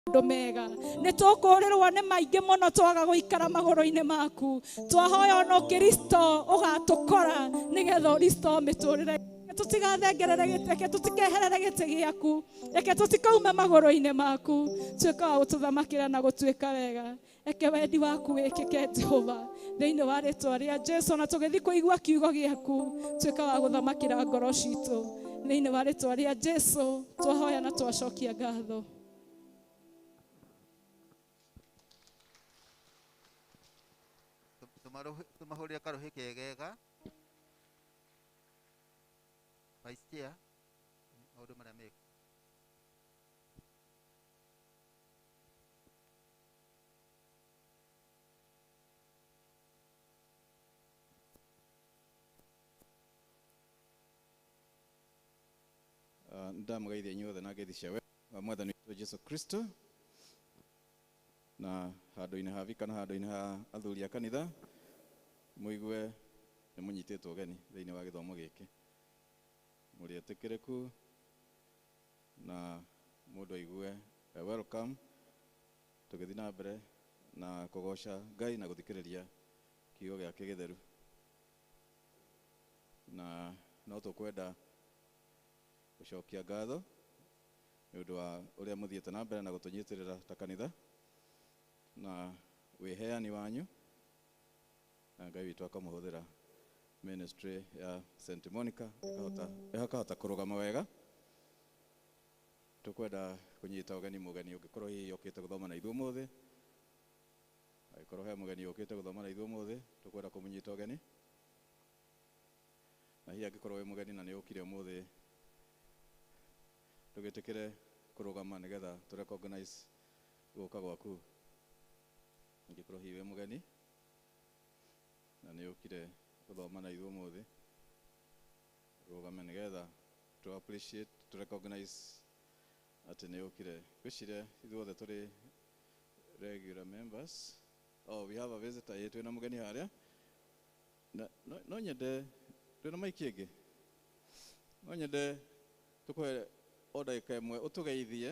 maũndũ mega nĩ tũkũrĩrwo nĩ maingĩ mũno twaga gũikara magũrũ-inĩ maku twahoya ona ũkristo ũgatũkora nĩgetha ũristo mĩtũrĩre Reke tũtigathengerere gĩtĩ reke tũtikeherere gĩtĩ gĩaku reke tũtikaume magũrũ-inĩ maku tuĩka wa gũtũthamakĩra na gũtuĩka wega reke wendi waku wĩkĩke jehova thĩinĩ wa rĩtwa rĩa jesu na tũgĩthiĩ kũigua kiugo gĩaku tuĩka wa gũthamakĩra ngoro citũ thĩinĩ wa rĩtwa rĩa jesu twahoya na twacokia ngatho tumahurire karuhi kegega vice chair maundu maria meka Ah, ndamũgeithia inyuothe na ngeithi cia we wa mwathani witũ jesu kristo na handũ-inĩ ha vika na handũ-inĩ ha athuri a kanitha mũigue nĩ mũnyitĩtwo ũgeni thĩinĩ wa gĩthomo gĩkĩ mũrĩ etĩkĩrĩku na mũndũ aigue e welcome tũgĩthiĩ na mbere na kũgoca Ngai na gũthikĩrĩria kiugo gĩake gĩtheru. Na no tũkwenda gũcokia ngatho nĩ ũndũ wa ũrĩa mũthiĩte na mbere na gũtũnyitĩrĩra ta kanitha na wĩheani wanyu. na Ngai witũ akamũhũthĩra ministry ya St Monica ĩkahota ĩkahota kũrũgama wega tũkwenda kũnyita ũgeni mũgeni ũngĩkorwo hihi okĩte gũthoma na ithuĩ ũmũthĩ angĩkorwo he mũgeni ũkĩte gũthoma na ithuĩ ũmũthĩ tũkwenda kũmũnyita ũgeni na hihi angĩkorwo wĩ mũgeni na nĩ ũkire ũmũthĩ ndũgĩtĩkĩre kũrũgama nĩgetha tũ recognize gũka gwaku Ingĩkorwo hihi wĩ mũgeni na nĩ ũkire gũthoma na ithuĩ ũmũthĩ, rũgame nĩgetha tũ appreciate, tũ recognize atĩ nĩ ũkire. Ngwĩciria ithuothe tũrĩ regular members. Oh, we have a visitor. Ĩĩ twĩna mũgeni harĩa. Na no, no nyende, twĩna maiki ĩngĩ? No nyende tũkũhe o ndagĩka ĩmwe ũtũgeithie.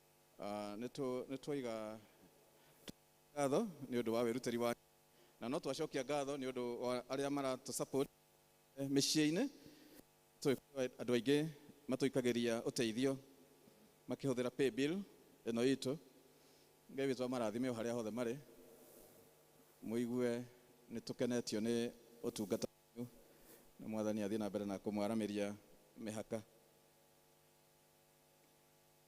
Ah, nĩ tũ- nĩ twaiga ngatho nĩ ũndũ wa wĩrutĩri wake na no twacokia ngatho nĩ ũndũ wa arĩa maratũ support eh, mĩciĩ-inĩ Tũĩ kwĩ andũ aingĩ matũikagĩria ũteithio makĩhũthĩra pay bill ĩno itũ ngai witũ amarathime o harĩa hothe marĩ mũigue nĩ tũkenetio nĩ ũtungata wanyu na mwathani athiĩ na mbere na kũmwaramĩria mĩhaka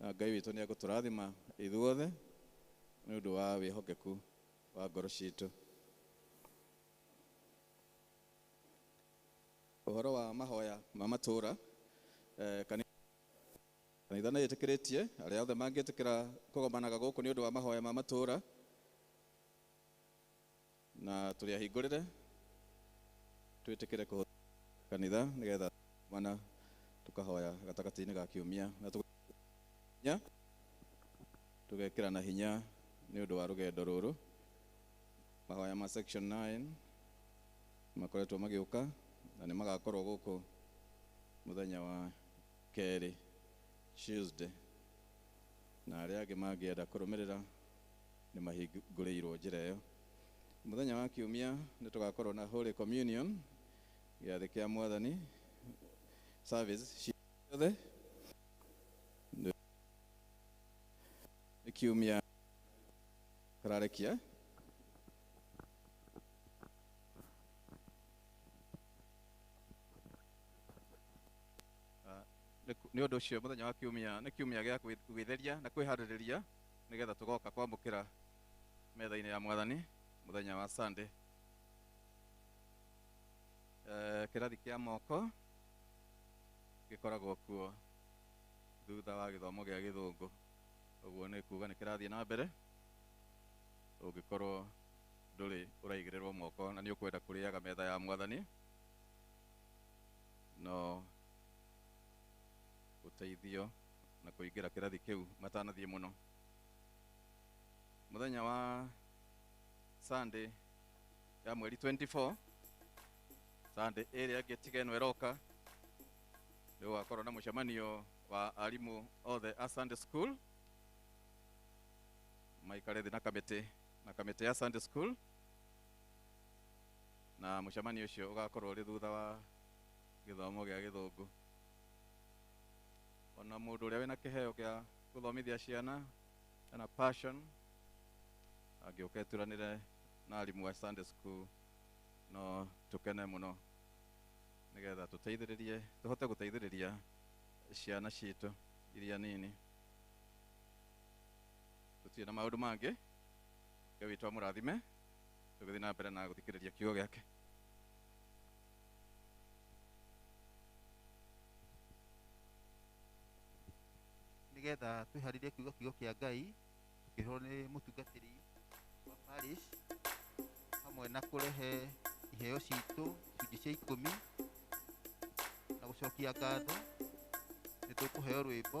Na Ngai witũ nĩegũtũrathima ithuothe nĩ ũndũ wa wĩhokeku wa ngoro citũ. Ũhoro wa mahoya ma matũũra, Kanitha nĩ ĩtĩkĩrĩtie arĩa othe mangĩtĩkĩra kũgomanaga gũkũ nĩ ũndũ wa mahoya ma matũũra. na tũrĩ ahingũrĩre twĩtĩkĩre kũhũthĩra kanitha nĩgetha mana tũkahoya gatagatĩ-inĩ ga kiumia na tũgekĩrana tũgekĩrana hinya nĩ ũndũ wa rũgendo rũrũ mahoya ma section 9 makoretwo magĩũka na nĩ magakorwo gũkũ mũthenya wa kerĩ Tuesday na arĩa angĩ mangĩenda kũrũmĩrĩra Nĩ mahingũrĩirũo njĩra ĩyo. Mũthenya wa Kiumia nĩ tũgaakorũo na Holy Communion, Gĩathĩ kĩa Mwathani, service ciothe. Nĩ Kiumia kararĩkia. Nĩ ũndũ ũcio mũthenya wa Kiumia nĩ Kiumia gĩa gwĩtheria na kwĩharĩrĩria. nĩgetha tũgoka kwamũkĩra metha-inĩ ya mwathani mũthenya wa sunday Eh, kĩrathi kĩa moko gĩkoragwo kuo thutha wa gĩthomo gĩa gĩthũngũ ũguo nĩ kuga nĩ kĩrathiĩ na mbere ũngĩkorwo ndũrĩ ũraigĩrĩrwo moko na nĩ ũkwenda kũrĩaga metha ya mwathani no ũteithio na kũingĩra kĩrathi kĩu matanathiĩ mũno mũthenya wa sunday ya mweri 24 sunday ĩrĩa ĩngĩ tiga ĩno ĩroka nĩ gũgakorwo na mũcemanio wa arimũ othe a sunday school maikare thĩ na kamĩtĩ na kamĩtĩ ya sunday school na mũcemanio ũcio ũgakorwo ũrĩ thutha wa gĩthomo gĩa gĩthũngũ ona mũndũ ũrĩa wĩna kĩheo gĩa gũthomithia ciana ena passion angĩũka eturanĩre na arimũ a Sunday school no tũkene mũno nĩgetha tũteithĩrĩrie tũhote gũteithĩrĩria ciana citũ iria nini tũtirĩ na maũndũ mangĩ ngai witũ amũrathime tũgĩthiĩ na mbere na gũthikĩrĩria kiugo gĩake nĩgetha twĩharĩrie kiuga kiugo kĩa ngai tũkĩhũrwo nĩ mũtungatĩri wa parish hamwe na kũrehe iheo citũ icunjĩ cia ikũmi na gũcokia ngatho nĩ tũkũheo rwĩmbo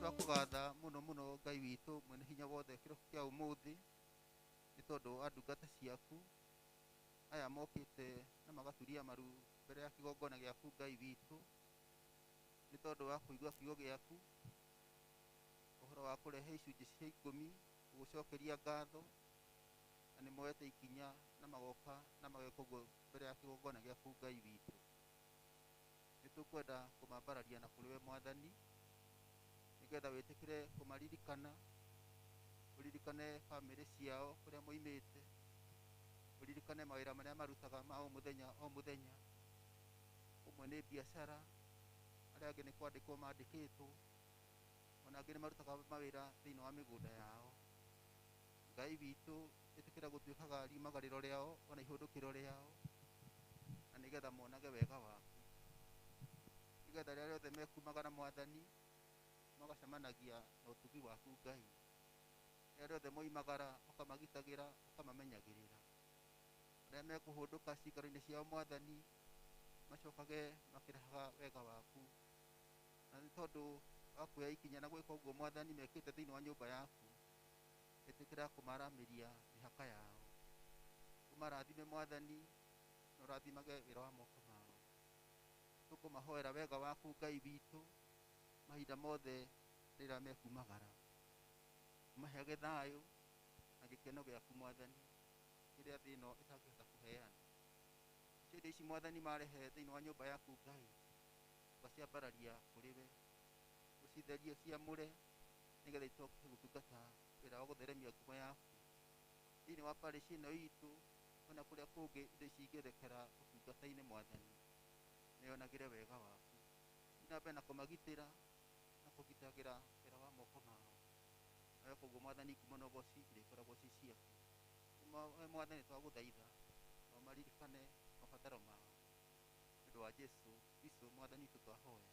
twakũgatha mũno mũno ngai witũ mwene hinya wothe kĩroko kĩa ũmũthĩ nĩ tondũ wa ndungata ciaku aya mokĩte na magaturia maru mbere ya kĩgongona gĩaku ngai witũ nĩ tondũ wa kũigua kiugo gĩaku ũhoro wa kũrehe icunjĩ cia ikũmi gũgũcokeria ngatho na nĩ moete ikinya na magoka na mageka ũguo mbere ya kĩgongona gĩaku Ngai witũ. Nĩ tũkwenda kũmambararia na kũrĩ we Mwathani, nĩgetha wĩtĩkĩre kũmaririkana, ũririkane bamĩrĩ ciao kũrĩa moimĩte, ũririkane mawĩra marĩa marutaga ma o mũthenya o mũthenya, ũmwe nĩ biacara, arĩa angĩ nĩ kwandĩkwo mandĩkĩtwo, ona angĩ nĩ marutaga mawĩra thĩinĩ wa mĩgũnda yao. Ngai witũ ĩtĩkĩra gũtuĩkaga riumaga rĩro rĩao ona ihũndũkĩro rĩao na nĩgetha monage wega waku nĩgetha rĩrĩa rĩothe mekumaga na mwathani magacemanagia na ũtugi waku Ngai rĩrĩa rĩothe moimagara ũkamagitagĩra ũkamamenyagĩrĩra rĩrĩa mekũhũndũka cikaro-inĩ ciao mwathani macokage makĩrahaga wega waku na nĩ tondũ wa kuoya ikinya na gwĩka ũguo mwathani mekĩte thĩinĩ wa nyũmba yaku etĩkĩra kũmaramĩria mĩhaka yao ũmarathime mwathani na ũrathimage wĩra wa moko mao tũkũmahoera wega waku ngai witũ mahinda mothe rĩrĩa mekumagara maheage thayũ na gĩkeno gĩaku mwathani kĩrĩa thĩ ĩno ĩtangĩhota kũheana cio indo ici mwathani marehe thĩinĩ wa nyũmba yaku ngai ũgaciambararia kũrĩ we ũcitherie ciamũre nĩgetha icoke gũtungata wĩra wa gũtheremia ngumo yaku thĩinĩ wa parish ĩno itũ ona kũrĩa kũngĩ indo ici ingĩerekera ũtungata-inĩ mwathani nĩyonagĩre wega waku thiĩ na mbere na kũmagitĩra na kũgitagĩra wĩra wa moko mao nawe koguo mwathani ngumo na ũboci irĩkoragwo ci ciaku Nĩ ma- we mwathani twagũthaitha na ũmaririkane mabataro mao nĩ ũndũ wa jesu kristo mwathani witũ twahoya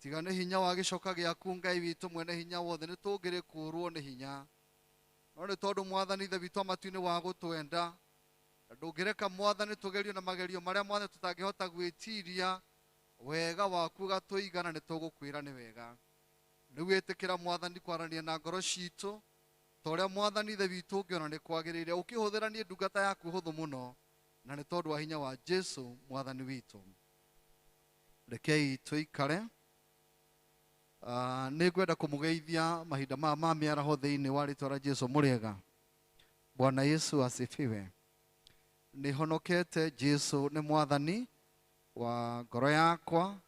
tiga nĩ hinya wa gĩcoka gĩaku ngai witũ mwene hinya wothe nĩ tũngĩrĩ kũũrwo nĩ hinya no nĩ tondũ mwathani ithe witũ wa matu-inĩ wa gũtwenda na ndũngĩreka mwathani tũgerio na magerio marĩa mwathani tũtangĩhota gwĩtiria wega waku ũgatũiga na nĩ tũgũkwĩra nĩ wega rĩu wĩtĩkĩra mwathani kwaranĩria na ngoro citũ ta ũrĩa mwathani ithe witũ ũngĩona nĩ kwagĩrĩire ũkĩhũthĩra niĩ ndungata yaku hũthũ mũno na nĩ tondũ wa hinya wa jesu mwathani witũ rekei tũikare Ah, nĩ ngwenda kũmũgeithia mahinda maya ma mĩaraho thĩinĩ wa rĩtwa rĩa jesu mũrĩega bwana yesu asifiwe nĩ honokete jesu nĩ mwathani wa ngoro yakwa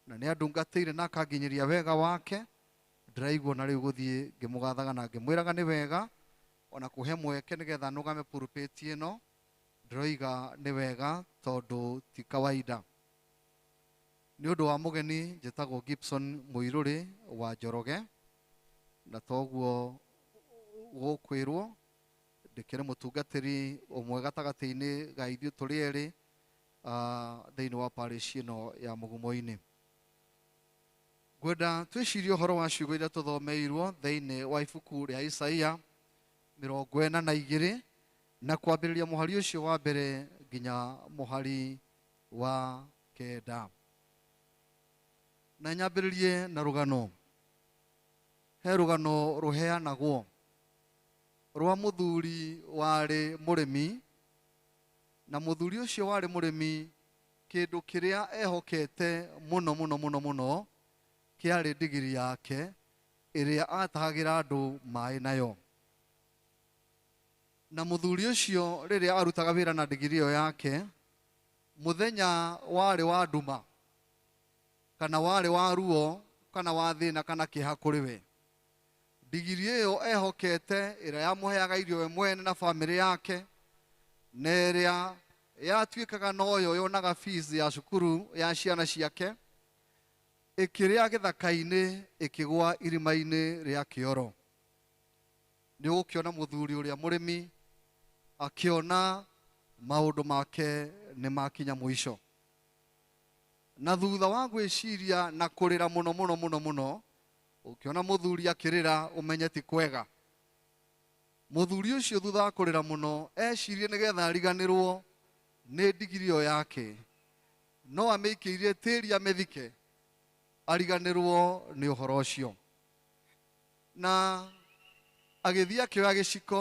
na nĩ andungatĩire na akanginyĩria wega wake ndĩraigua na rĩu gũthiĩ ngĩmũgathaga na ngĩmwĩraga nĩ wega ona kũhe mweke nĩgetha nũgame pulpit ĩno Ndĩroiga nĩ wega tondũ ti kawaida. Nĩ ũndũ wa mũgeni njĩtagwo Gibson Mũirũrĩ wa Njoroge, na toguo gũkwĩrwo ndĩkĩrĩ mũtungatĩri ũmwe gatagatĩ-inĩ ga ithuĩ tũrĩ erĩ thĩinĩ wa parish ĩno ya Mũgumo-inĩ. Ngwenda twĩcirie ũhoro wa ciugo iria tũthomeirwo thĩinĩ wa ibuku rĩa Isaia mĩrongo ĩna na igĩrĩ Na kwambĩrĩria mũhari ũcio wa mbere nginya mũhari wa kenda. Na nyambĩrĩrie na rũgano. He rũgano rũheanagwo rwa mũthuri warĩ mũrĩmi, na mũthuri ũcio warĩ mũrĩmi kĩndũ kĩrĩa ehokete mũno mũno mũno mũno kĩarĩ ndigiri yake ĩrĩa atahagĩra andũ maĩ nayo. Na mũthuri ũcio rĩrĩa arutaga wĩra na ndigiri ĩyo yake, mũthenya warĩ wa nduma, kana warĩ wa ruo, kana wa thĩna, kana kĩeha kũrĩ we. Ndigiri ĩyo ehokete ĩrĩa yamũheaga irio we mwene na bamĩrĩ yake, na ĩrĩa yatuĩkaga noyo yonaga fees ya cukuru ya ciana ciake, ĩkĩrĩa gĩthaka-inĩ ĩkĩgwa irima-inĩ rĩa kĩoro. nĩ ũgũkĩona mũthuri ũrĩa mũrĩmi akĩona maũndũ make nĩ makinya mũico na thutha wa gwĩciria na kũrĩra mũno mũno mũno mũno ũkĩona mũthuri akĩrĩra ũmenye ti kwega mũthuri ũcio thutha wa kũrĩra mũno ecirie nĩgetha ariganĩrwo nĩ ndigiri ĩyo yake no amĩikĩirie tĩri amĩthike ariganĩrwo nĩ ũhoro ũcio Na agĩthiĩ akĩoya gĩciko,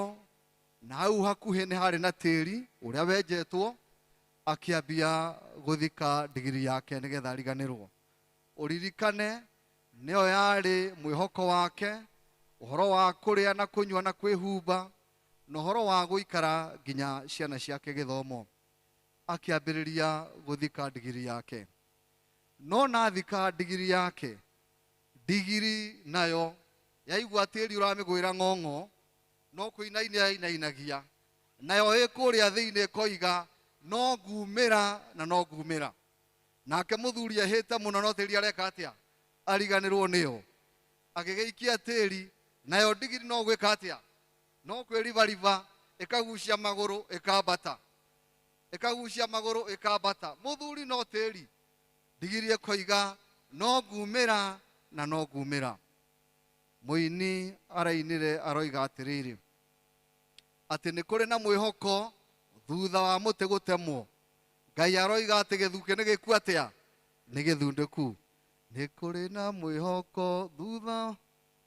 na hau hakuhĩ nĩ harĩ na tĩri ũrĩa wenjetwo, akĩambia gũthika ndigiri yake nĩgetha ariganĩrwo. Ũririkane nĩyo yarĩ mwĩhoko wake, ũhoro wa kũrĩa na kũnyua na kwĩhumba, na ũhoro wa gũikara nginya ciana ciake gĩthomo. Akĩambĩrĩria gũthika ndigiri yake. No ona athika ndigiri yake, Ndigiri nayo yaigua tĩri ũramĩgũĩra ng'ong'o, no kũinaina yainainagia, nayo ĩ kũrĩa thĩinĩ ĩkoiga, No nguumĩra na no nguumĩra. Nake mũthuri ehĩte mũno no tĩri areka atĩa? Ariganĩrwo nĩyo. Agĩgĩikia tĩri, nayo ndigiri no gwĩka atĩa? No kwĩribariba ĩkagucia magũrũ ĩkambata. Ĩkagucia magũrũ ĩkambata. Mũthuri no tĩri. Ndigiririe koiga no nguumĩra na no nguumĩra. Mũini arainire aroiga atĩrĩrĩ, atĩ nĩ kũrĩ na mwĩhoko thutha wa mũtĩ gũtemwo. Ngai aroiga atĩ gĩthukĩ nĩ gĩkuo atĩa? Nĩ gĩthundĩku. Nĩ kũrĩ na mwĩhoko thutha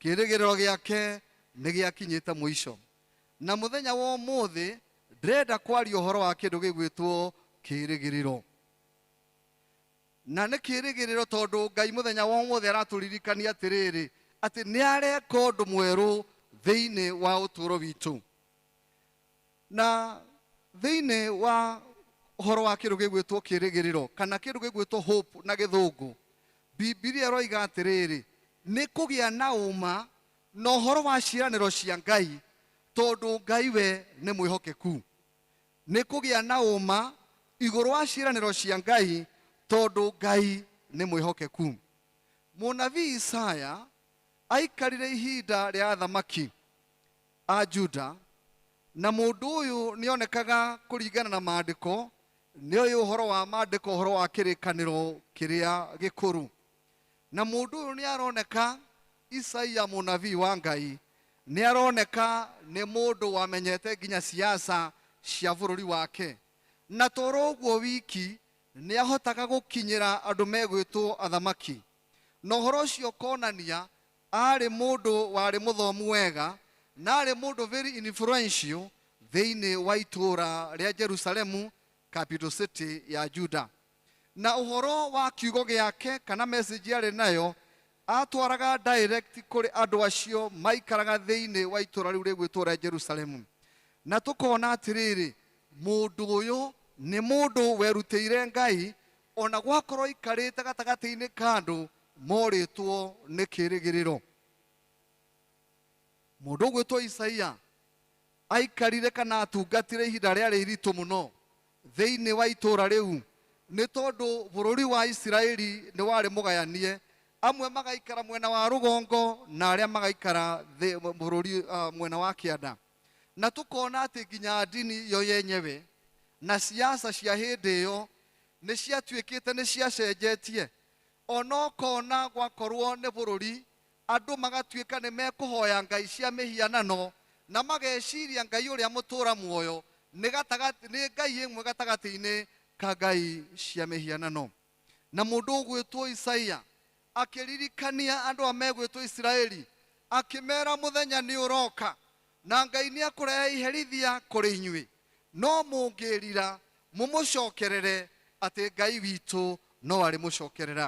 Kĩĩrĩgĩrĩro gĩake nĩ gĩakinyĩte mũico. Na mũthenya wa ũmũthĩ ndĩrenda kwaria ũhoro wa kĩndũ gĩgwĩtwo kĩĩrĩgĩrĩro. Na nĩ kĩĩrĩgĩrĩro tondũ Ngai mũthenya wa ũmũthĩ aratũririkania atĩrĩrĩ, atĩ nĩ areka ũndũ mwerũ thĩinĩ wa ũtũũro witũ. Na thĩinĩ wa ũhoro wa kĩndũ gĩgwĩtwo kĩrĩgĩrĩro kana kĩndũ gĩgwĩtwo hope na gĩthũngũ, Bibilia ĩroiga atĩrĩrĩ, nĩ kũgĩa na ũma na ũhoro wa ciĩranĩro cia Ngai tondũ Ngai we nĩ mwĩhokeku. Nĩ kũgĩa na ũma igũrũ wa ciĩranĩro cia Ngai tondũ Ngai nĩ mwĩhokeku. Mũnabii Isaya aikarire ihinda rĩa athamaki a Juda, na mũndũ ũyũ nĩonekaga kũringana na maandĩko nĩoĩ ũhoro wa maandĩko ũhoro wa kĩrĩkanĩro kĩrĩa gĩkũrũ na mũndũ ũyũ nĩaroneka isaia mũnabii wa ngai nĩaroneka nĩ mũndũ wamenyete nginya siasa cia bũrũri wake na toro ũguo wiki nĩahotaga gũkinyĩra andũ megwĩtwo athamaki na ũhoro ũcio ũkonania Aarĩ mũndũ warĩ mũthomu wega na aarĩ mũndũ very influential thĩinĩ wa itũũra rĩa Jerusalemu, capital city ya Juda. Na ũhoro wa kiugo gĩake kana message arĩ nayo atwaraga direct kũrĩ andũ acio maikaraga thĩinĩ wa itũũra rĩu rĩgwĩtwo rĩa Jerusalemu. Na tũkona atĩrĩrĩ, mũndũ ũyũ nĩ mũndũ werutĩire Ngai, O na gwakorwo aikarĩte gatagatĩ-inĩ ka andũ morĩtwo nĩ kĩĩrĩgĩrĩro. Mũndũ ũgwĩtwo Isaia aikarire kana atungatire ihinda rĩarĩ iritũ mũno thĩinĩ wa itũũra rĩu, nĩ tondũ bũrũri wa Isiraeli nĩ warĩ mũgayanie, amwe magaikara mwena wa rũgongo na arĩa magaikara bũrũri mwena wa kĩanda. Na tũkona atĩ nginya ndini yo yenyewe na ciaca cia hĩndĩ ĩyo nĩ ciatuĩkĩte nĩ ciacenjetie, o na ũkona gwakorũo nĩ bũrũri andũ magatuĩka nĩ mekũhoya ngai cia mĩhianano na mageciria Ngai ũrĩa mũtũra muoyo nĩ ngai ĩmwe gatagatĩ-inĩ ka ngai cia mĩhianano. na mũndũ ũgwĩtwo isaia akĩririkania andũ a megwĩtwo isiraeli akĩmera mũthenya nĩ ũroka na ngai nĩ akũrehe iherithia kũrĩ inyuĩ no mũngĩrira mũmũcokerere atĩ ngai witũ no arĩ mũcokerera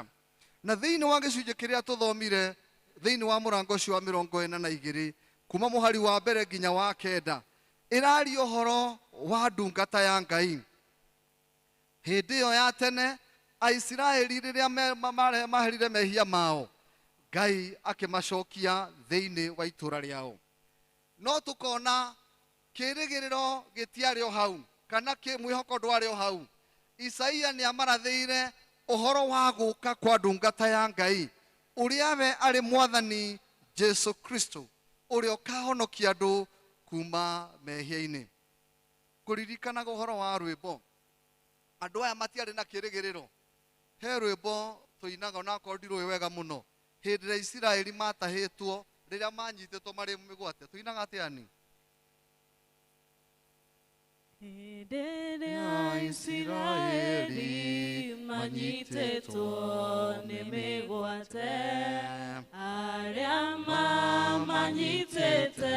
na thĩinĩ wa gĩcunjĩ kĩrĩa tũthomire thĩinĩ wa mũrango ũcio wa mĩrongo ĩna na igĩrĩ kuma mũhari wa mbere nginya wa kenda ĩraria ũhoro wa ndungata ya ngai Hĩndĩ ĩyo ya tene, Aisiraeli rĩrĩa me- ma- mare- maherire mehia mao, Ngai akĩmacokia thĩinĩ wa itũũra rĩao. No tũkona kĩĩrĩgĩrĩro gĩtiarĩ o hau, kana kĩ- mwĩhoko ndwarĩ o hau. Isaia nĩ amarathĩire ũhoro wa gũka kwa ndungata ya Ngai, ũrĩa we arĩ mwathani Jesu Kristo, ũrĩa ũkahonokia andũ kuma mehia-inĩ. Kũririkanaga ũhoro wa rwĩmbo. Andũ aya matiarĩ na kĩrĩgĩrĩro. He rwĩmbo tũinaga onakorwo ndirũĩ wega mũno. Hĩndĩ ĩrĩa Isiraeli matahĩtwo, rĩrĩa manyitĩtwo marĩ mĩgwate. Tũinaga atĩa ni? Hĩndĩ ĩrĩa Isiraeli manyitĩtwo nĩ mĩgwate, arĩa mamanyitĩte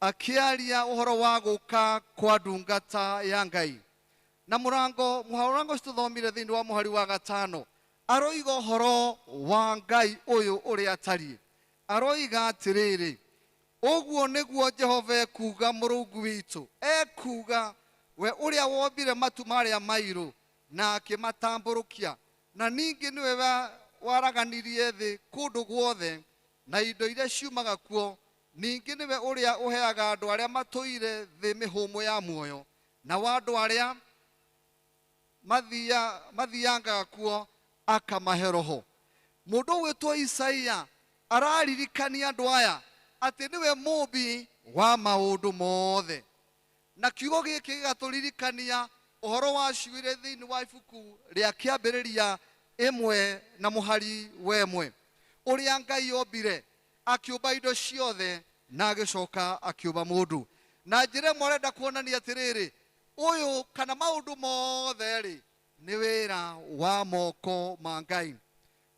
Akĩaria ũhoro wa gũka kwa ndungata ya Ngai. Na mũrango, mũhaũrango ũcio tũthomire thĩinĩ wa mũhari wa gatano, aroiga ũhoro wa Ngai ũyũ ũrĩa atariĩ. Aroiga atĩrĩrĩ, Ũguo nĩguo Jehova ekuuga Mũrungu witũ, ekuuga, we ũrĩa wombire matu marĩa mairũ na akĩmatambũrũkia, na ningĩ nĩwe wa- waraganirie thĩ kũndũ guothe, na indo iria ciumaga kuo, Ningĩ nĩwe ũrĩa ũheaga andũ arĩa matũire thĩ mĩhũmũ ya muoyo, nao andũ arĩa mathiia, mathiangaga kuo akamahe Roho. Mũndũ ũgwĩtwo Isaia araririkania andũ aya atĩ nĩwe Mũũmbi wa maũndũ mothe. Na kiugo gĩkĩ gĩgatũririkania ũhoro wa ciũirĩ thĩinĩ wa ibuku rĩa Kĩambĩrĩria ĩmwe na mũhari wa ĩmwe, ũrĩa Ngai ombire Akĩũmba indo ciothe, na agĩcoka akĩũmba mũndũ. Na njĩra ĩmwe arenda kuonania atĩrĩrĩ, ũyũ kana maũndũ mothe-rĩ, nĩ wĩra wa moko ma Ngai.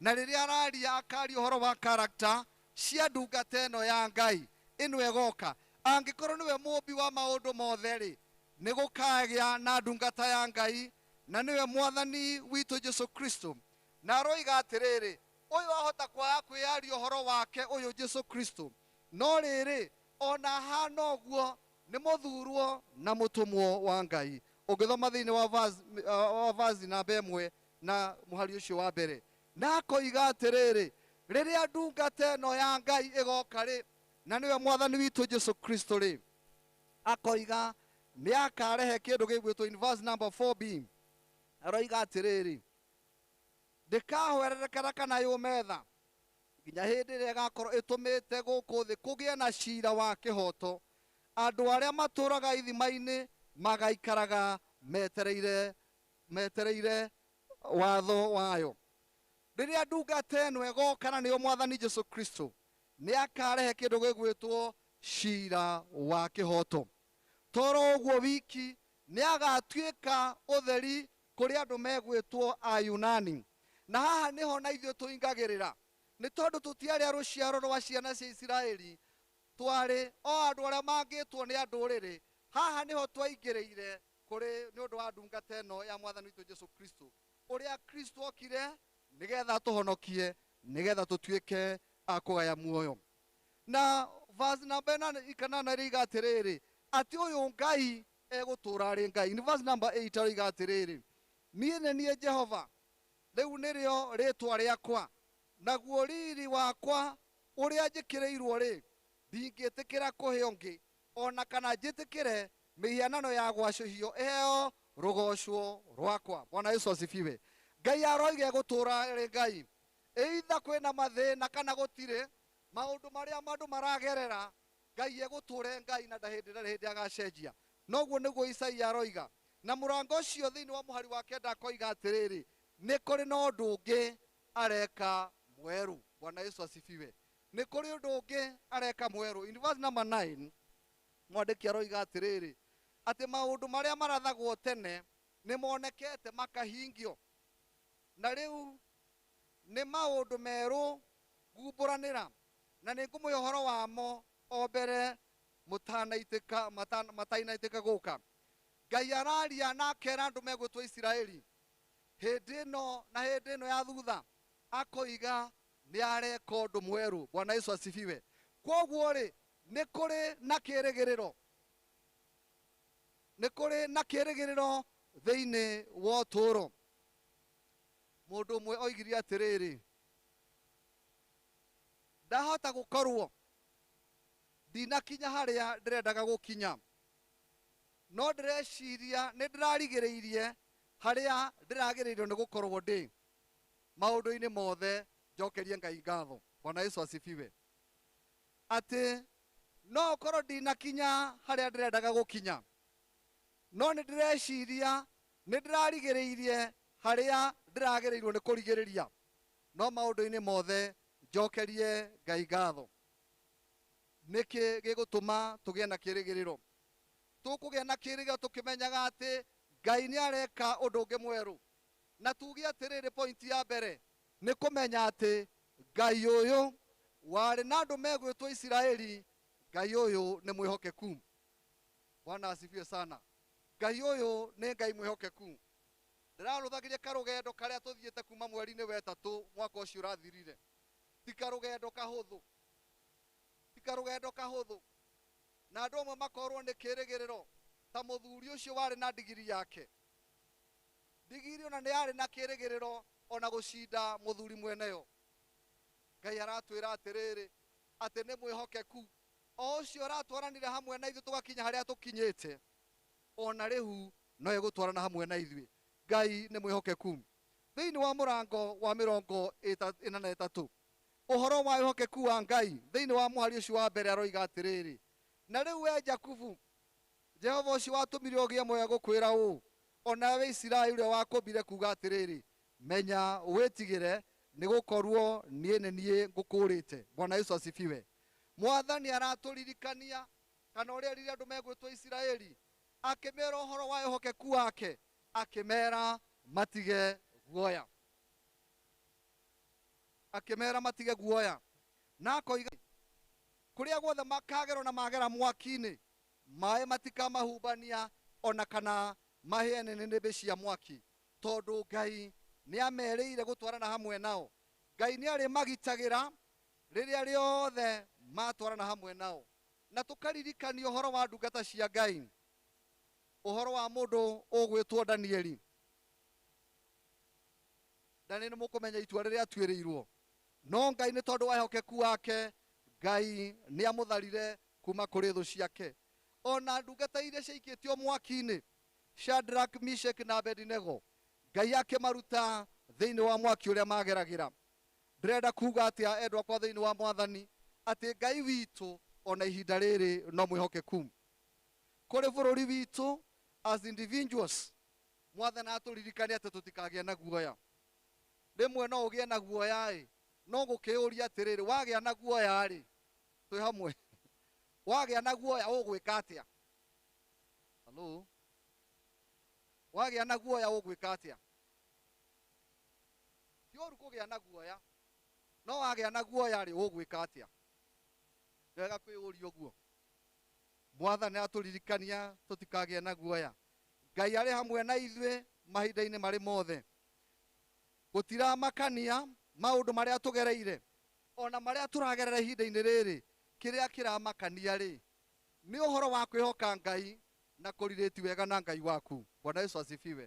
Na rĩrĩa araria akaria ũhoro wa character cia ndungata ĩno ya Ngai, ĩno ĩgoka. Angĩkorwo nĩwe mũmbi wa maũndũ mothe-rĩ, nĩ gũkagĩa na ndungata ya Ngai, na nĩwe Mwathani witũ Jesu Kristo. Na aroiga atĩrĩrĩ, Ũyũ ahota kwaga kwĩyaria ũhoro wake, ũyũ Jesu Kristo, no rĩrĩ, o na ahaana ũguo, nĩ mũthuurwo na mũtũmwo wa Ngai. Ũngĩthoma thĩinĩ wa verse, wa verse namba ĩmwe na mũhari ũcio wa mbere. Na akoiga atĩrĩrĩ, Rĩrĩa ndungata ĩno ya Ngai ĩgoka-rĩ, na nĩwe Mwathani witũ Jesu Kristo-rĩ, akoiga, nĩakarehe kĩndũ gĩgwĩtwo, in verse number 4b, aroiga atĩrĩrĩ, Ndĩkaahwererekera kana yũme tha, nginya hĩndĩ ĩrĩa ĩgaakorwo ĩtũmĩte gũkũ thĩ kũgĩe na ciira wa kĩhooto, andũ arĩa matũũraga ithima-inĩ magaikaraga metereire, metereire watho wayo. Rĩrĩa ndungata ĩno ĩgooka, na nĩyo Mwathani Jesu Kristo, nĩ akaarehe kĩndũ gĩgwĩtwo ciira wa kĩhooto. To ro ũguo wiki, nĩ agaatuĩka ũtheri kũrĩ andũ megwĩtwo Ayunani, na haha nĩho na ithuĩ tũingagĩrĩra, nĩ tondũ tũtiarĩ a rũciaro rwa ciana cia Isiraeli, twarĩ o andũ arĩa mangĩtwo nĩ andũrĩrĩ, haha nĩho twaingĩrĩire kũrĩ nĩ ũndũ wa ndungata ĩno ya Mwathani witũ Jesu Kristo, ũrĩa Kristo okire nĩ getha atũhonokie, nĩ getha tũtuĩke a kũgaya muoyo. Na verse namba ĩnana, kanana ĩroiga atĩrĩrĩ, atĩ ũyũ Ngai Egũtũũra arĩ Ngai. Nĩ verse number eight aroiga atĩrĩrĩ, Niĩ nĩ niĩ Jehova, rĩu nĩrĩo rĩĩtwa rĩakwa, naguo riiri wakwa ũrĩa njĩkĩrĩirũo-rĩ, ndingĩtĩkĩra kũhe ũngĩ, o na kana njĩtĩkĩre mĩhianano ya gwacũhio ĩheo rũgooco rwakwa. Bwana Yesu asifiwe. Ngai aroiga egũtũũra arĩ Ngai. Either kwĩna mathĩna kana gũtirĩ, maũndũ marĩa andũ maragerera, Ngai egũtũũra e Ngai na ndahĩndĩ ndarĩ hĩndĩ agaacenjia. Na ũguo nĩguo Isaia aroiga. Na mũrango ũcio thĩinĩ wa mũhari wa kenda akoiga atĩrĩrĩ, Nĩ kũrĩ na ũndũ ũngĩ areka mwerũ. Bwana Yesu asifiwe. Nĩ kũrĩ ũndũ ũngĩ areka mwerũ. In verse number nine, mwandĩki aroiga atĩrĩrĩ, Atĩ maũndũ marĩa marathagwo tene nĩ monekete makahingio. Na rĩu Nĩ maũndũ merũ nguumbũranĩra, na nĩngũmũhe ũhoro wamo o mbere mũtanaitĩka, mata, matainaitĩka gũũka. Ngai araaria na akeera andũ megwĩtwo Isiraeli, hĩndĩ ĩno na hĩndĩ ĩno ya thuutha, akoiga nĩareeka ũndũ mwerũ. Bwana Yesu asifiwe! Kwoguo-rĩ, nĩ kũrĩ na kĩĩrĩgĩrĩro. Nĩ kũrĩ na kĩĩrĩgĩrĩro thĩinĩ wa ũtũũro. Mũndũ ũmwe oigire atĩrĩrĩ, ndahota gũkorwo ndinakinya harĩa ndĩrendaga gũkinya, no ndĩreciria nĩ ndĩrarigĩrĩirie harĩa ndĩragĩrĩirwo nĩ gũkorwo ndĩ. Maũndũ-inĩ mothe njokerie Ngai ngatho. Bwana Yesu asifiwe. Atĩ no ũkorwo ndinakinya harĩa ndĩrendaga gũkinya, no nĩ ndĩreciria Nĩndĩrarigĩrĩirie harĩa ndĩragĩrĩirwo nĩ kũrigĩrĩria, no maũndũ-inĩ mothe njokerie Ngai ngatho. Nĩkĩ gĩgũtũma tũgĩe na kĩĩrĩgĩrĩro? Tũkũgĩa na kĩĩrĩgĩrĩro tũkĩmenyaga atĩ Ngai nĩareka ũndũ ũngĩ mwerũ. Na tuuge atĩrĩrĩ, point ya mbere, nĩ kũmenya atĩ Ngai ũyũ warĩ na andũ megwĩtwo Isiraeli, Ngai ũyũ nĩ mwĩhokeku. Bwana asifiwe sana. Ngai ũyũ nĩ Ngai mwĩhokeku. Ndĩrarũthagĩria karũgendo karĩa tũthiĩte kuuma mweri-inĩ wa ĩtatũ mwaka ũcio ũrathirire. Ti karũgendo kahũthũ. Ti karũgendo kahũthũ. Na andũ amwe makorũo nĩ kĩĩrĩgĩrĩro ta mũthuri ũcio warĩ na ndigiri yake. Ndigiri o na nĩ yarĩ na kĩĩrĩgĩrĩro o na gũcinda mũthuri mwene yo. Ngai aratwĩra atĩrĩrĩ atĩ nĩ mwĩhokeku. O ũcio ũratwaranire hamwe na ithuĩ tũgakinya harĩa tũkinyĩte, o na rĩu no egũtwarana hamwe na ithuĩ. Ngai nĩ mwĩhokeku. Thĩinĩ wa mũrango wa mĩrongo ĩta, ĩna na ĩtatũ, ũhoro wa wĩhokeku wa Ngai, thĩinĩ wa mũhari ũcio wa mbere aroiga atĩrĩrĩ, Na rĩu wee Jakubu, Jehova ũcio watũmire ũgĩe muoyo egũkwĩra ũũ, o nawe wee Isiraeli ũrĩa wakũmbire kuuga atĩrĩrĩ, Menya, wĩtigĩre, nĩ gũkorũo niĩ nĩ niĩ ngũkũũrĩte. Bwana Yesu asifiwe. Mwathani aratũririkania, kana ũrĩa rĩrĩa andũ megwĩtwo Isiraeli, akĩmera ũhoro wa ehokeku wake, akĩmera matige guoya. Akĩmera matige guoya. Na akoiga, Kũrĩa guothe makagerwo na magera mwaki-inĩ, maĩ matikamahubania o na kana mahĩe nĩ nĩnĩmbĩ cia mwaki, tondũ Ngai nĩamerĩire gũtwarana hamwe nao. Ngai nĩarĩmagitagĩra Rĩrĩa rĩothe maatwarana hamwe nao. Na tũkaririkania ũhoro wa ndungata cia Ngai, ũhoro wa mũndũ ũgwĩtwo Danieli. Danieli nĩ mũkũmenya itua rĩrĩa atuĩrĩirwo. No Ngai nĩ tondũ wa ehokeku wake, Ngai nĩ amũtharire kuma kũrĩ thũ ciake. O na ndungata iria ciaikĩtio mwaki-inĩ, Shadrach, Meshach na Abednego, Ngai akĩmaruta thĩinĩ wa mwaki ũrĩa maageragĩra. Ndĩrenda kuuga atĩa, endwa akwa thĩinĩ wa Mwathani, atĩ Ngai witũ o na ihinda rĩrĩ no mwĩhokeku? Kũrĩ bũrũri witũ, as individuals, Mwathani atũririkania atĩ tũtikagĩe na guoya. Rĩmwe no ũgĩe na guoya-ĩ, no ngũkĩũria atĩrĩrĩ, wagĩa na guoya-rĩ, twĩ hamwe? Wagĩa na guoya ũgwĩka atĩa? Halloo? Wagĩa na guoya ũgwĩka atĩa? Ti ũũru kũgĩa na guoya, no wagĩa na guoya-rĩ, ũgwĩka atĩa? Nĩ wega kwĩyũria ũguo. Mwathani aratũririkania tũtikagĩe na guoya. Ngai arĩ hamwe na ithuĩ mahinda-inĩ marĩ mothe. Gũtiramakania maũndũ marĩa tũgereire, o na marĩa tũragerera ihinda-inĩ rĩrĩ, kĩrĩa kĩramakania-rĩ, nĩ ũhoro wa kwĩhoka Ngai na kũrĩrĩti wega na Ngai waku. Bwana Yesu asifiwe.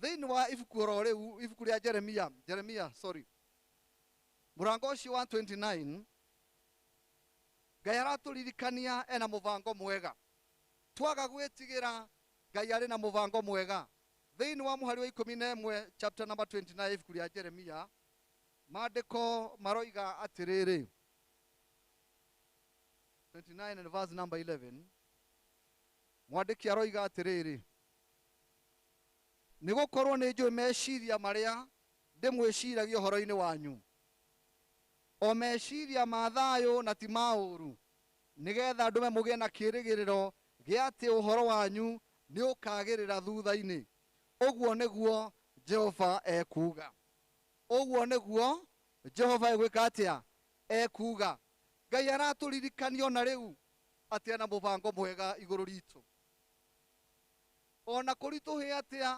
Thĩinĩ wa ibuku oro rĩu, ibuku rĩa Jeremia, Jeremia, sorry, mũrango ũcio wa 29, Ngai aratũririkania ena mũbango mwega. Twaga gwĩtigĩra Ngai arĩ na mũbango mwega. Thĩinĩ wa mũhari wa ikũmi na ĩmwe, chapter number 29, ibuku rĩa Jeremia, maandĩko maroiga atĩrĩrĩ, 29 and verse number 11, mwandĩki aroiga atĩrĩrĩ, Nĩ gũkorũo nĩ njũĩ meciria marĩa ndĩmwĩciragia ũhoro-inĩ wanyu, o meciria ma thayũ na ti ma ũũru, nĩ getha ndũme mũgĩe na kĩĩrĩgĩrĩro gĩa atĩ ũhoro wanyu nĩ ũkaagĩrĩra thutha-inĩ, ũguo nĩguo Jehova ekuuga. Ũguo nĩguo Jehova egwĩka atĩa? Ekuuga. Ngai aratũririkania o na rĩu atĩ arĩ na mũbango mwega igũrũ ritũ. O na kũritũhe atĩa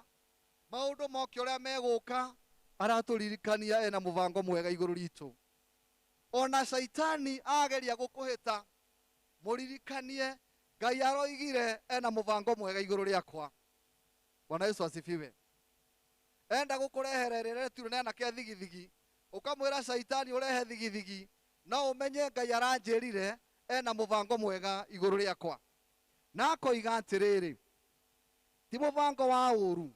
maũndũ moke ũrĩa megũka, aratũririkania ena mũbango mwega igũrũ ritũ. O na Shaitani ageria gũkũhĩta, mũririkanie Ngai aroigire ena mũbango mwega igũrũ rĩakwa. Bwana Yesu asifiwe. Enda gũkũrehere rĩretu rĩnena ke thigithigi, ũkamwĩra Shaitani ũrehe thigithigi, no ũmenye Ngai aranjĩrire ena mũbango mwega igũrũ rĩakwa. Na akoiga atĩrĩrĩ, Ti mũbango wa ũũru,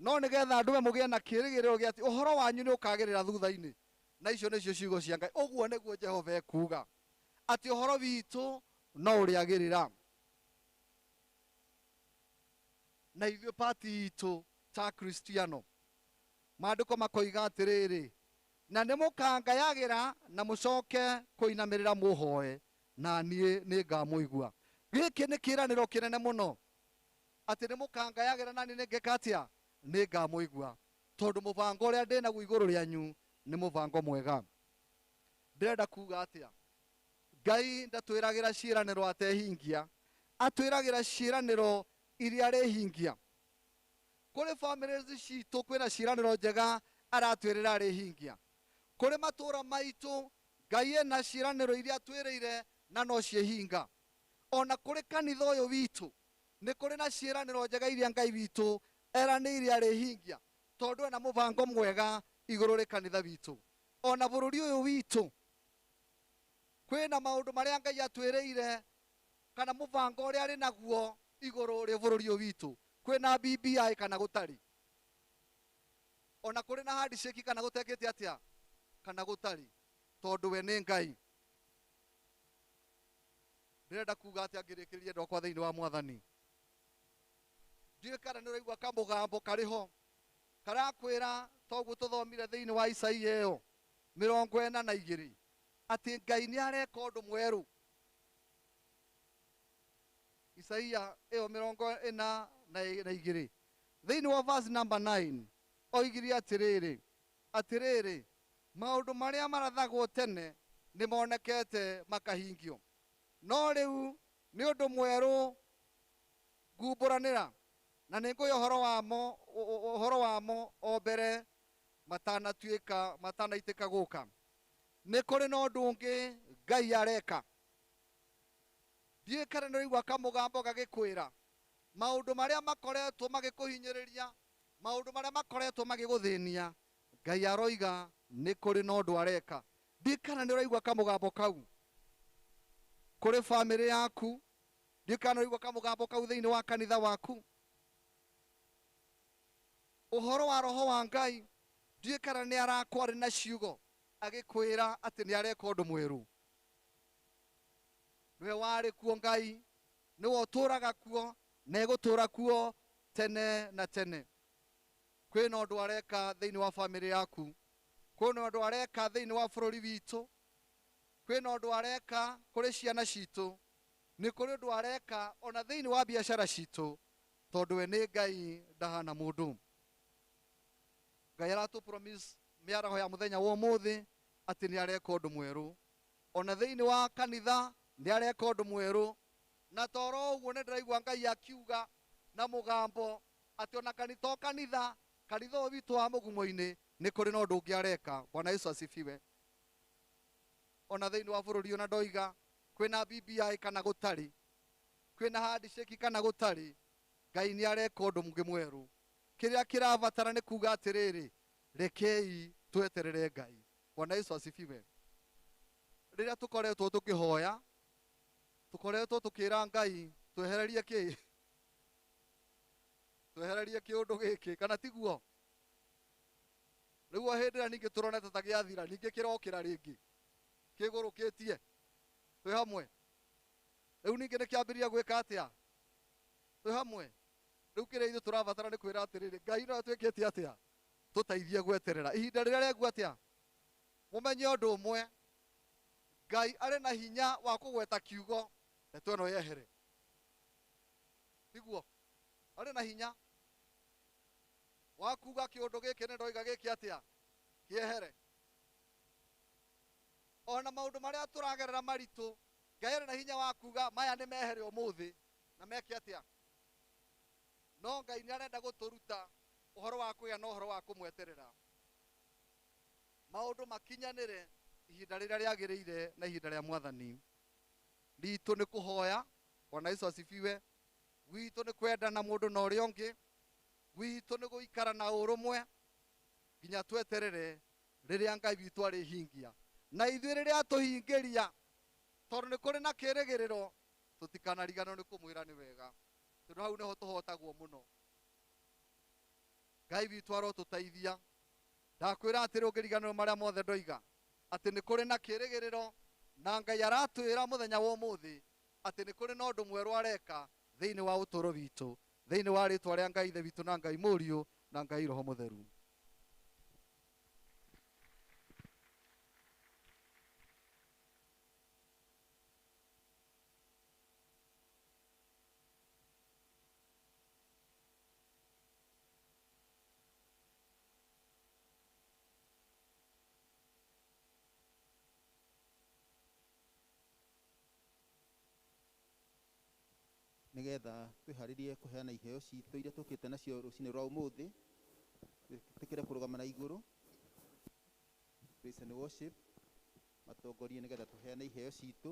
no nĩ getha ndũme mũgĩe na kĩĩrĩgĩrĩro gĩa atĩ ũhoro wanyu nĩ ũkaagĩrĩra thutha-inĩ, na icio nĩcio ciugo cia Ngai, ũguo nĩguo Jehova ekuuga, atĩ ũhoro witũ no ũrĩagĩrĩra, na ithuĩ pati itũ ta Akristiano. Maandĩko makoiga atĩrĩrĩ, Na nĩmũkangayagĩra na mũcoke kũinamĩrĩra mũhooe, na niĩ nĩngamũigua. Gĩkĩ nĩ kĩĩranĩro kĩnene mũno, atĩ nĩmũkangayagĩra na niĩ nĩngeka atĩa? Nĩngamũigua, tondũ mũbango ũrĩa ndĩ naguo igũrũ rĩanyu nĩ mũbango mwega. Ndĩrenda kuuga atĩa? Ngai ndatwĩragĩra ciĩranĩro atehingia, atwĩragĩra ciĩranĩro iria arĩhingia. Kũrĩ families ciitũ kwĩna ciĩranĩro njega aratwĩrĩra arĩhingia. Kũrĩ matũũra maitũ Ngai ena ciĩranĩro iria atwĩrĩire na no ciĩhinga. O na kũrĩ kanitha ũyũ witũ, nĩ kũrĩ na ciĩranĩro njega iria Ngai witũ eranĩire arĩhingia tondũ ena mũbango mwega igũrũ rĩ kanitha witũ. O na bũrũri ũyũ witũ, kwĩ na maũndũ marĩa Ngai atwĩrĩire kana mũbango ũrĩa arĩ naguo igũrũ rĩ bũrũri ũyũ witũ, kwĩ na BBI kana gũtarĩ. o na kũrĩ na handicĩki kana gũtekĩte atĩa kana gũtarĩ tondũ we nĩ ngai ndĩrenda kuga atĩa ngĩrĩkĩrĩria ndokwa thĩinĩ wa mwathani ndiũĩ kana nĩ ũraigua kamũgambo karĩ ho karakwĩra toguo tũthomire thĩinĩ wa isaia ĩyo mĩrongo ĩna na igĩrĩ atĩ ngai nĩ areka ũndũ mwerũ isaia ĩyo mĩrongo ĩna na ĩ- na igĩrĩ Thĩinĩ wa verse number nine, oigire atĩrĩrĩ, Atĩrĩrĩ, maũndũ marĩa marathagwo tene nĩ monekete makahingio, no rĩu nĩ ũndũ mwerũ nguumbũranĩra, na nĩ ngũhe ũhoro wamo, ũ- ũ- ũhoro wamo o mbere matanatuĩka, matanaitĩka gũka. Nĩ kũrĩ na ũndũ ũngĩ Ngai areka. Ndiũĩ kana nĩ ũraigua kamũgambo gagĩkwĩra, Maũndũ marĩa makoretwo magĩkũhinyĩrĩria, maũndũ marĩa makoretwo magĩgũthĩnia, Ngai aroiga nĩ kũrĩ na ũndũ areka. Ndiũĩ kana nĩ ũraigua kamũgambo kau kũrĩ famĩlĩ yaku, ndiũĩ kana nĩ ũraigua kamũgambo kau thĩinĩ wa kanitha waku. Ũhoro wa Roho wa Ngai, ndiũĩ kana nĩ arakwarĩ na ciugo agĩkwĩra atĩ nĩ areka ũndũ mwerũ. Nĩwe warĩ kuo Ngai, Nĩwe ũtũũraga kuo na egũtũũra kuo tene na tene. Kwĩna ũndũ areka thĩinĩ wa famĩlĩ yaku. Kwĩna ũndũ areka thĩinĩ wa bũrũri witũ. Kwĩna ũndũ areka kũrĩ ciana citũ. Nĩ kũrĩ ũndũ areka ona thĩinĩ wa biacara citũ tondũ we nĩ Ngai ndahana mũndũ. Ngai aratũ promise mĩaraho ya mũthenya wa ũmũthĩ atĩ nĩ areka ũndũ mwerũ. O na thĩinĩ wa kanitha nĩ areka ũndũ mwerũ. Na ta o ro ũguo nĩ ndĩraigua Ngai akiuga na mũgambo atĩ o na kani to kanitha, kanitha ũyũ witũ wa mũgumo-inĩ nĩ kũrĩ na ũndũ ũngĩ areka. Bwana Yesu asifiwe. O na thĩinĩ wa bũrũri ũyũ na ndoiga kwĩ na BBI kana gũtarĩ, kwĩ na handshake kana gũtarĩ, Ngai nĩ areka ũndũ ũngĩ mwerũ. Kĩrĩa kĩrabatara nĩ kuuga atĩrĩrĩ, Rekei tweterere Ngai. Bwana Yesu asifiwe. Rĩrĩa tũkoretwo tũkĩhoya, tũkoretwo tũkĩra Ngai twehererie kĩ? Twehererie kĩũndũ gĩkĩ, kana tiguo? Nĩguo hĩndĩ ĩrĩa ningĩ tũronete ta gĩathira, ningĩ kĩrokĩra rĩngĩ, kĩgũrũkĩtie. Twĩ hamwe? Rĩu ningĩ nĩkĩambĩrĩria gwĩka atĩa? Twĩ hamwe? Rĩu kĩrĩa ithuĩ tũrabatara nĩ kwĩra atĩrĩrĩ, Ngai no atwĩkĩtie atĩa? Tũteithie gweterera ihinda rĩrĩa rĩagu atĩa? Mũmenye ũndũ ũmwe, Ngai arĩ na hinya wa kũgweta kiugo ndeto ĩno yehere. Tiguo? Arĩ na hinya wa kuuga kĩũndũ gĩkĩ nĩ ndoiga gĩkĩ atĩa? Kĩehere. O na maũndũ marĩa tũragerera maritũ, Ngai arĩ na hinya wa kuuga maya nĩ mehere ũmũthĩ na meke atĩa? No Ngai nĩ arenda gũtũruta ũhoro wa kũgĩa na ũhoro wa kũmweterera maũndũ makinyanĩre ihinda rĩrĩa rĩagĩrĩire na ihinda rĩa Mwathani. Ritũ nĩ kũhoya, Bwana Yesu asifiwe, gwitũ nĩ kwendana mũndũ na ũrĩa ũngĩ, gwitũ nĩ gũikara na ũrũmwe nginya tweterere rĩrĩa Ngai witũ arĩhingia. Na ithuĩ rĩrĩa atũhingĩria, tondũ nĩ kũrĩ na kĩrĩgĩrĩro, tũtikanariganĩrwo nĩ kũmwĩra nĩ wega. tondå hau nĩho tũhotagwo mũno ngai witũ arotũteithia ndakwĩra atĩrĩ ũngĩriganĩrwo marĩa mothe ndoiga atĩ nĩ kũrĩ na kĩrĩgĩrĩro na ngai aratwĩra mũthenya wa ũmũthĩ atĩ nĩ kũrĩ na ũndũ mwerũ areka thĩinĩ wa ũtũũro witũ thĩinĩ wa rĩtwa rĩa ngai ithe witũ na ngai mũriũ na ngai roho mũtheru nĩgetha twĩharĩrie kũheana iheo citũ iria tũkĩte nacio rũcinĩ rwa ũmũthĩ twĩtĩkĩre kũrũgama na igũrũ praise and worship matongorie nĩgetha tũheane iheo citũ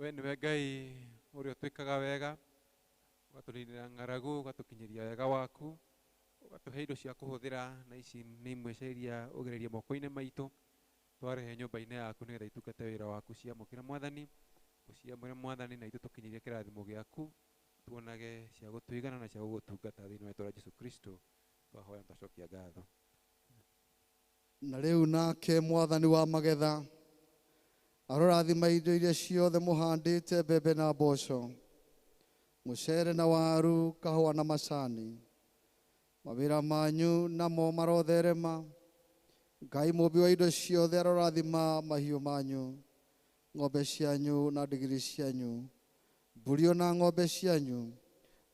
we nĩwe ngai ũrĩa ũtwĩkaga wega ũgatũninĩra ng'aragu ũgatũkinyĩria wega waku ũgatũhe indo cia kũhũthĩra na ici nĩ imwe cia iria ũgereria moko-inĩ maitũ twarehe nyũmba-inĩ yaku nĩgetha itungate wĩra waku ciamũkĩre mwathani ũciamũre mwathani na itũ tũkinyĩrie kĩrathimo gĩaku tuonage cia gũtũigana na cia gũgũtungata thĩinĩ wa itũra jesu kristo twahoya na twacokia ngatho Na rĩu nake Mwathani wa magetha arorathima indo iria ciothe mũhandĩte, mbembe na mboco, mũcere na waru, kahũa na macani. Mawĩra manyu namo marotherema. Ngai Mũũmbi wa indo ciothe arorathima mahiũ manyu ng'ombe cianyu na ndigiri cianyu, mbũri o na ng'ombe cianyu,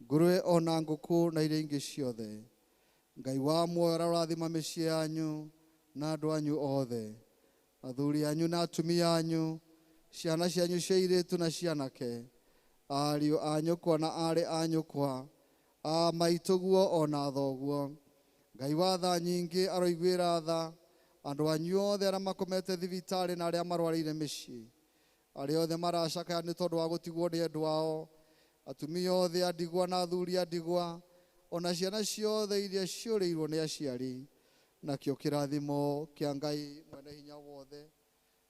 ngũrũwe o na ngũkũ na iria ingĩ ciothe. Ngai wa muoyo arũrathima mĩciĩ yanyu na andũ anyu othe, athuri anyu na atumia anyu, ciana cianyu cia airĩtu na cia anake, ariũ a nyũkwa na aarĩ a nyũkwa, A maitũguo o na thoguo. Ngai wa tha nyingĩ aroiguĩra tha andũ anyu othe arĩa makomete thibitarĩ na arĩa marwarĩire mĩciĩ, arĩa othe maracakaya nĩ tondũ wa gũtigwo nĩ endwa ao, atumia othe a ndigwa na athuri a ndigwa, o na ciana ciothe iria ciũrĩirwo nĩ aciari. Nakĩo kĩrathimo kĩa Ngai Mwene-Hinya-Wothe.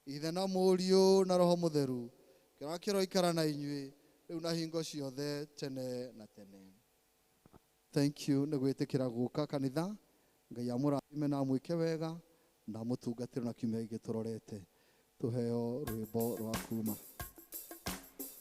Ithe na Mũriũ na Roho Mũtheru, kĩroa kĩroikara na inyuĩ rĩu na hingo ciothe tene na tene. Thank you nĩ gwĩtĩkĩra gũka kanitha. Ngai amũrathime na amwĩke wega na amũtungatĩre na kiumia gĩkĩ tũrorete. Tũheo rwĩmbo rwa kuuma.